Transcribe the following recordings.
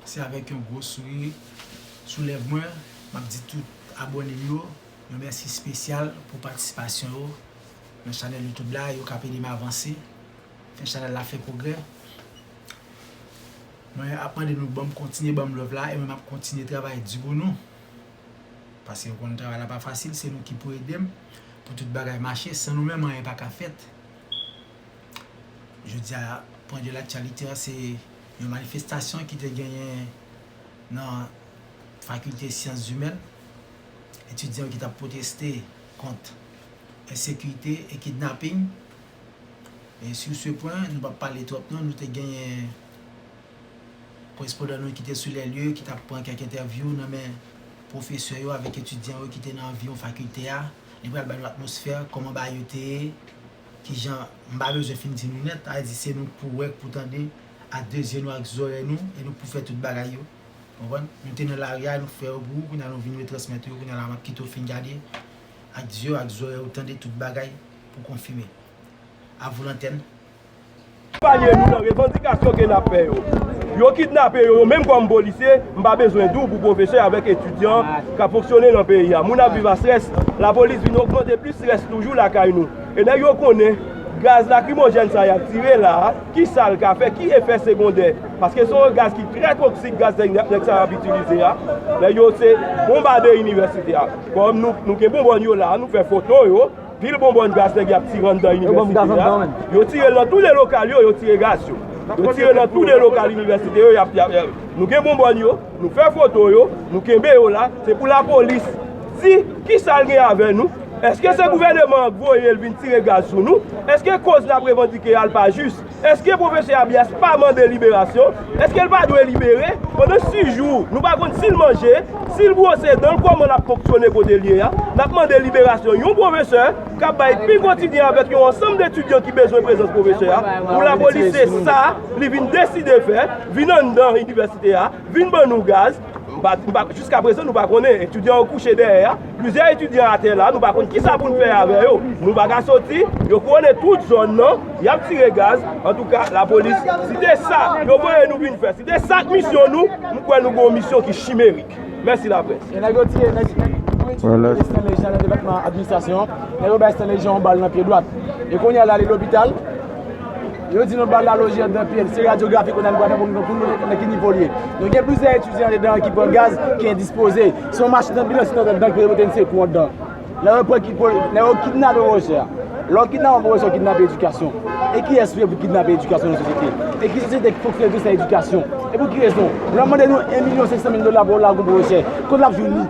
Se avèk yon gwo souri sou lèv mwen m ap di tout abòne m yo yon mèsi spesyal pou patisipasyon yo nan chanèl youtube la yo k ap ede m avanse fè chanèl la fè pwogrè mwen ap mande nou banm kontinye banm love la e mwen m ap kontinye travay di pou nou paske ou konn travay la pa fasil se nou ki pou ede m pou tout bagay mache san nou menm anyen pa ka fèt jodi a pwen de laktyalite an se. Yon manifestasyon ki te genyen nan Fakilte Syanszimèn, etidyan yo ki tap pwoteste kont ensekite e kidnaping. E sur ce point, nou pap pale twòp non, nou te genyen korespondan nou ki te sou lè lye, ki tap pran kèk entèvyou nan men pwofesè yo avèk etidyan yo ki te nan anviwon fakilte a. Li pral ba nou atmosfè, kòman bagay yo te ye. Kijan, m pa bezwen fin di nou nèt, sa vle di se nou k pou wè, k pou tande, ak 2 zye nou ak zòrèy nou, e nou k pou fè tout bagay yo. Konprann? Nou te nan lari a, nou k fè yo pou ou, kounye a nou vin retransmèt ou yo, kounye a la m ap kite w fin gade ak zye w ak zòrèy ou, tande tout bagay pou w konfime. A vous l'antenne. Konpanye nou nan revandikasyon ke nap fè yo. Yo kidnape yo, yo menm kòm polisye, m pa bezwen di w pou pwofesè avèk etidyan kap fonksyone nan peyi a. Moun ap viv a strès, lapolis vin ogmante plis strès toujou lakay nou. E nèg yo konnen gaz lakrimojèn sa yap tire la a, kisa l ka fè, ki efè segondè. Paske se yon gaz ki trè toksik, gaz nèg sa yo ap itilize a. Nèg yo se bonbade inivèsite a. Kòm nou gen bonbòn yo la a, nou fè foto yo. Pil bonbòn gaz nèg y ap tire anndan inivèsite a. Yo tire l nan tou de lokal yo, yo tire gaz yo. Yo tire nan tou de lokal inivèsite yo. Nou gen bonbòn yo, nou fè foto yo, nou kenbe yo la. Se pou lapolis di ki sa l gen avè nou. Eske se gouvèneman an k voye l vin tire gaz sou nou? Eske koz n ap revandike a l pa jis? Eske pwofesè Abias pa mande liberasyon? Eske l pa dwe libere? Pandan 6 jou, nou pa konn si l manje, si l bwose dan l kòman l ap fonksyone kote l ye a? N ap mande liberasyon yon pwofesè k ap bay pi kotidyen avèk yon ansanm detidyan ki bezwen prezans pwofesè a pou lapolis se sa li vin deside fè, vin anndan inivèsite a, vin ban nou gaz. Jiska prezan nou pa konnen etidyan yo kouche dèyè a, plizyè etidyan atè la nou pa konn kisa pou n fè avè yo, nou pa ka soti, yo kouwone tout zòn nan, y ap tire gaz, antouka lapolis si te sa yo voye nou vin fè, si te sa k misyon nou, m kwè nou gen yon misyon ki chimerik. Mèsi laprès. Yo di nou bal la loje andan pye n. Se radyografi kounye a nou pral fè pou nou konnen nan ki nivo l ye. Nou gen plizyè etidyan andedan an ki pran gaz, ki endispoze. Se yon machin anbilans ki te antre anndan l pou yo mete n sekou anndan. Lè yo pran Kipol, lè yo kidnape Wòjè a. Lè yo kidnape yon pwofesè, yo kidnape edikasyon. E kiyès vle pou kidnape edikasyon nan sosyete? E ki sosyete ki fonksyone tou san edikasyon? E pou ki rezon? Lè w mande nou 1 milyon 500 mil dola pou yon lagon pwofesè, kote l ap jwenn li?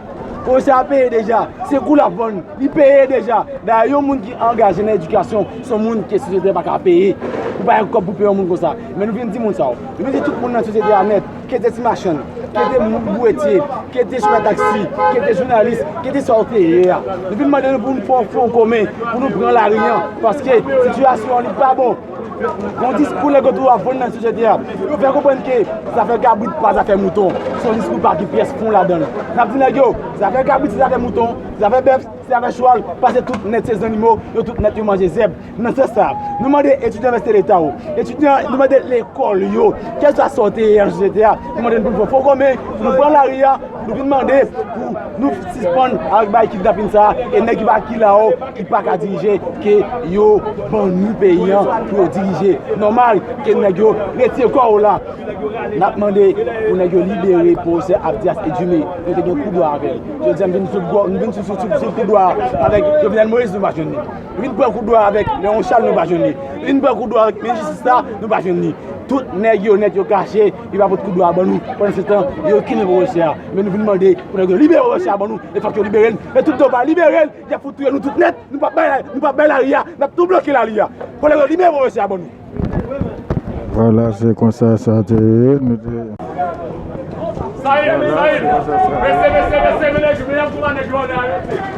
Pwojè a peye deja, se kou l ap vann, li peye deja. Dayè yon moun ki angaje nan edikasyon se yon moun ke sosyete a pa ka peye. Ou pa gen kòb pou peye yon moun konsa. Men nou vin di moun sa yo, nou vin di tout moun nan sosyete a nèt, ki yo te ti machann, ki yo te bouretye, ki yo te chofè taksi, ki yo te jounalis, ki yo te sa yo te ye a. Nou vin mande nou pou nou fè yon fwon komen, pou nou pran lari an, paske sitiyasyon an li pa bon. Yon diskou lè gotou ap vann nan sosyete a, yo fè konprann ke zafè kabrit pa zafè mouton, se yon diskou pa gen pyès fon ladan l. N ap di nèg yo, zafè kabrit se zafè mouton, zafè bèf se zafè chwal, pase tout nèt se zannimo, yo tout nèt yo manje zèb. Nan sans sa, nou mande etidyan inivèsite leta yo, etidyan, nou mande lekòl yo, kèlswa sa w te ye nan sosyete a, nou mande n pou n fè fon kòmè, pou nou pran lari a, Nou vin mande pou nou sispann avèk bagay kidnapin sa a e nèg ki pa ki la ou ki pa ka dirije ke yo ban nou peyi an pou yo dirije. Nòmal ke nèg yo retire kò yo la. N ap mande pou nèg yo libere pwofesè Abdias Edumé. Nou te gen kou dwa avè l. Jodi a n vin sou kò, n vin sou sou kou dwa avèk Jovenel Moïse nou pa jwenn li. Nou vin pran kou dwa avèk Léon Charles nou pa jwenn li. Nou vin pran kou dwa avèk minis jistis la nou pa jwenn li. Tout nèg yo nèt yo kache. Li pa pot kout dwa ban nou pandan se tan yo kenbe pwofesè a men nou vin mande pou nèg yo libere pwofesè a ban nou e fòk yo libere l e tout tan yo pa libere l yap fout touye nou tout nèt nou pap bay nou pap bay lari a nap tou bloke lari a fòk nèg yo libere pwofesè a ban nou. Vwala se konsa sa te ye nou te. Sa ye mezanmi mesye mesye mesye menaj yo menaj yo pa nèg yo anlè arete.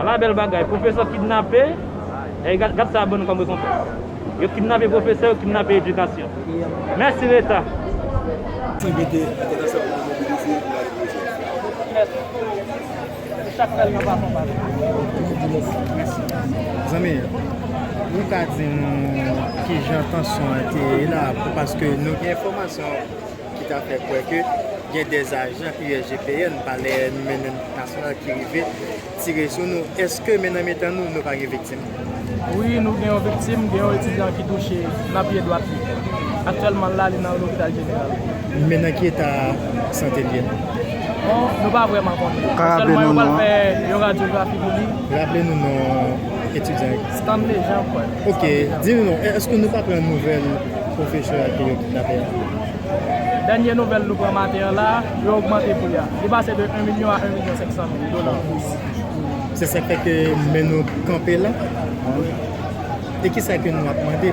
Ala bèl bagay, pwofesè kidnape, ey gad sa bannou kòm rekonpans. Yo kidnape pwofesè, yo kidnape edikasyon. Mèsi leta. Ti mete entènasyonal pou nou mobilize pou lage pwojè a. Mèsi. Pou chak rèl nan plafon pa nou. Nou di mèsi. Mèsi. Zanmi, ou ka di nou kijan tansyon an te ye la? Paske nou gen enfòmasyon. ki ta fè kwè ke gen 2 ajan USGPN, palè nou mennen nasyonal ki rive tire sou nou. Eske men nan mitan nou, nou pa gen viktim? Wi, nou gen yon viktim, gen yon etidyan ki touche nan pye dwat li. Aktyèlman l la, li nan lopital jeneral. Men nan ki eta sante l ye? Bon, nou pa vrèman konnen. Ou ka raple nou non an? Aktyèlman yo pral fè yon radyografi pou li. Raple nou non etidyan an? Stanley Jean Paul. Ok, di nou non, eske nou pa pran nouvèl? Professor a ke yo kidnape a. Dènye nouvèl nou pran maten an la, yo ogmante pri a. Li pase de 1 milyon a 1 milyon 500 mil dola an plis. Se sak fè ke men nou kanpe la. E kisa ke nou ap mande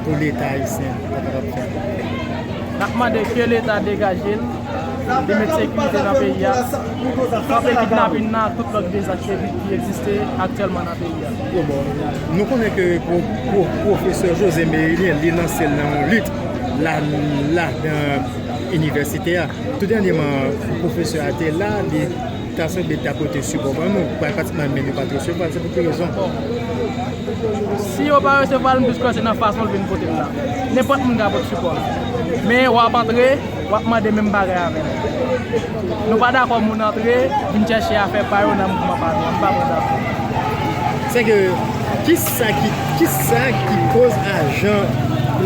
pou leta ayisyen ta kapab fè? Nap mande ke leta degaje l, li met sekirite nan peyi a, kanpe kidnapin nan ak tout lòt dezas ki egziste aktyèlman nan peyi a. Bon bon, nou konnen ke pwofesè José Mérilien li lanse l nan yon lit la nan inivèsite a. Tou dènyeman, pwofesè a te la, li ta sanble ta pote sipò ban nou, pratikman men yo pa t resevwa l, se pou ki rezon? Si yo pa resevwa l, m plis kwè se nan fason l vin pote l la. Nenpòt moun ka pot sipò. Men w ap antre. Wap mande menm bagay avèm. Nou pa dakò moun antre vin chèche afè pa yo nan mouvman pa nou an. M pa pran dakò. Sè ke kisa ki, kisa ki koz ajan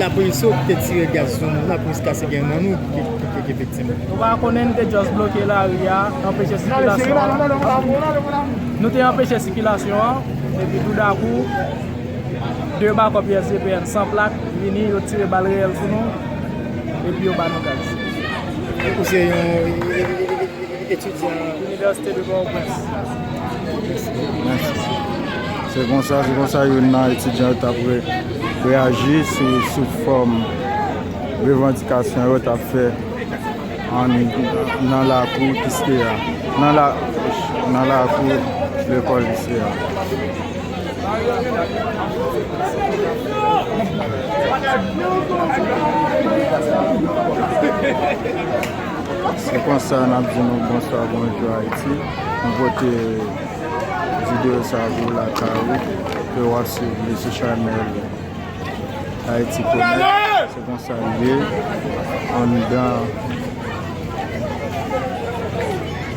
lapolis yo te tire gaz sou nou la plis ka se gen nan nou ki te viktim? Nou pa konnen nou te just bloke lari a, anpeche sikilasyon an. Nou te anpeche sikilasyon an, epi tou dakou, 2 bakòp USGPN san plak vini yo tire bal reyèl sou nou. Epi yo ba nou gaz. Ou se yon etidyan. Inivèsite de Pòtoprens. Mèsi. Se konsa, se konsa youn nan etidyan yo t ap reyaji sou fòm revandikasyon yo t ap fè nan lakou Kiskeya, nan lakou lekòl Kiskeya. Se konsa nap di nou bonswa bonjou Haïti. M pote video sa pou w lakay ou epi wap swiv li sou chanèl Haïti Connect. Se konsa l ye anndan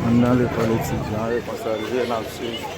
anndan lekòl etidyan an. Se konsa l ye nap swiv.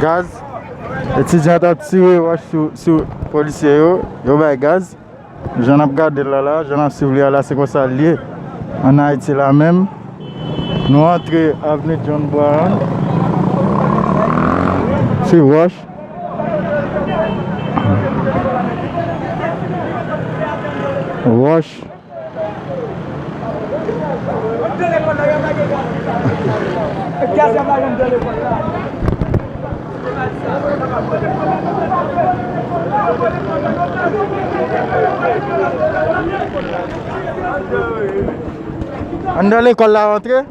Gaz Etidyan an t ap tire wòch sou polisye yo Yo bay gaz Jan n ap gade l la la Jan n ap swiv li a la Se konsa l ye ann Ayiti la menm Nou antre avni John Brown Ti wòch Wòch Anndan lekòl la rantre.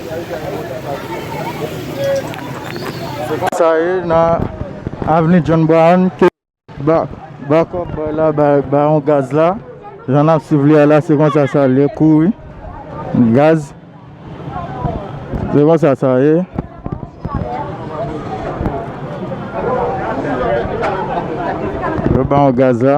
Se konsa ye nan avni John Brown ke backup boy la bay yon gaz la. Jan nap swiv li a la se konsa sa li ye kou wi. Gaz. Se konsa sa ye. Yo bay yon gaz la.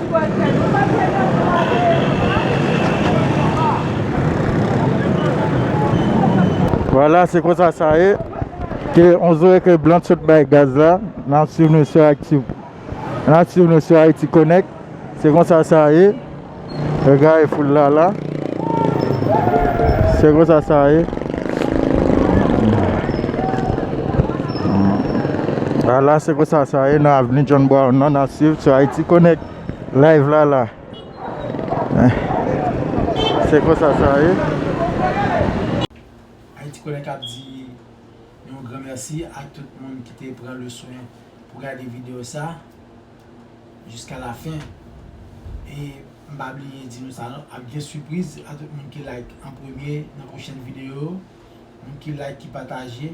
Vwala se konsa sa ye. Ke on zoe ke blan t sot bay gaz la nap swiv nou sou actu nap swiv nou sou Haïti connect se konsa sa ye regade foul la la. Se konsa sa ye. A la se konsa sa ye nan avni John Brown nan nan siv sou Haiti Connect live la la. Se konsa sa ye. Haiti Connect ap di yon gran mèsi a tout moun ki te pran le swen pou gade video sa. jiska la fin e m pa bliye di nou sa non ap gen sipriz a tout moun ki like an premye nan pwochèn video yo moun ki like ki pataje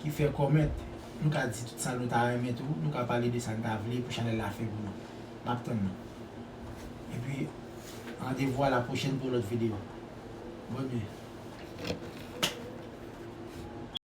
ki fè comment nou ka di tout sa nou ta renmen tou nou ka pale de sa n ta vle pou chanèl la fè pou nou m ap tann nou epi randevou a la pwochèn pou yon lòt video bon nuit.